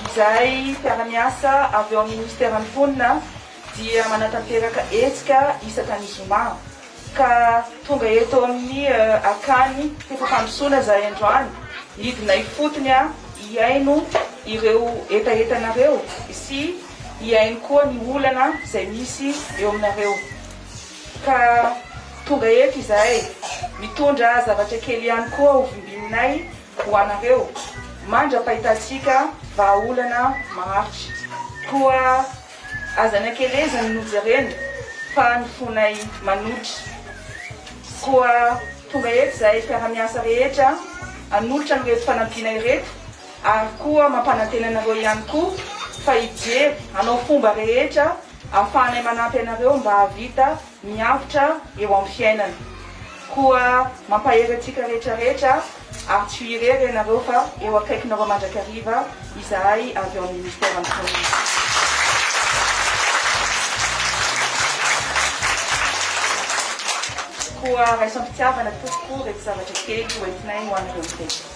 Izay mpiara-miasa avy ao amin'ny Minisiteran'ny Mponina dia manatanteraka hetsika isaka ny zoma. Ka tonga eto amin'ny akany fefam-pandrosoana izahay androany, nidina ifotony hihaino ireo hetahetanareo sy hihaino koa ny olana izay misy eo aminareo. Ka tonga eto izahay mitondra zavatra kely ihany koa hovimbinay ho anareo mandra-pahitantsika vahaolana maharitra. Koa Aza nakelezany nojerena fa ny fonay manotra. Koa tonga eto izahay mpiara-miasa rehetra hanolotra an'ireto fanampiana ireto ary koa mampanantena anareo ihany koa fa hijery hanao fomba rehetra ahafahanay manampy anareo mba hahavita miavotra eo amin'ny fiainana. Koa mampahery antsika rehetra rehetra ary tsy ho irery ianareo fa eo akaikinareo mandrakariva izahay avy ao amin'ny Ministeran'ny Mpanompony. Koa raisam-pitiavana tompoko ireto zavatra kely hoentinay ho anareo ireto.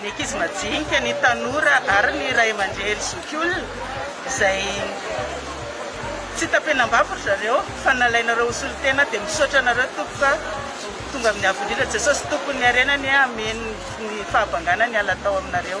ny ankizy majinika, ny tanora ary ny ray aman-dreny zokiolona izay tsy tapenam-bavy ry zareo fa nalainareo ho solontena dia misaotra anareo tompoko a! tonga amin'ny avo indrindra Jesosy tompon'ny harena anie amen ny fahabangana niala tao aminareo.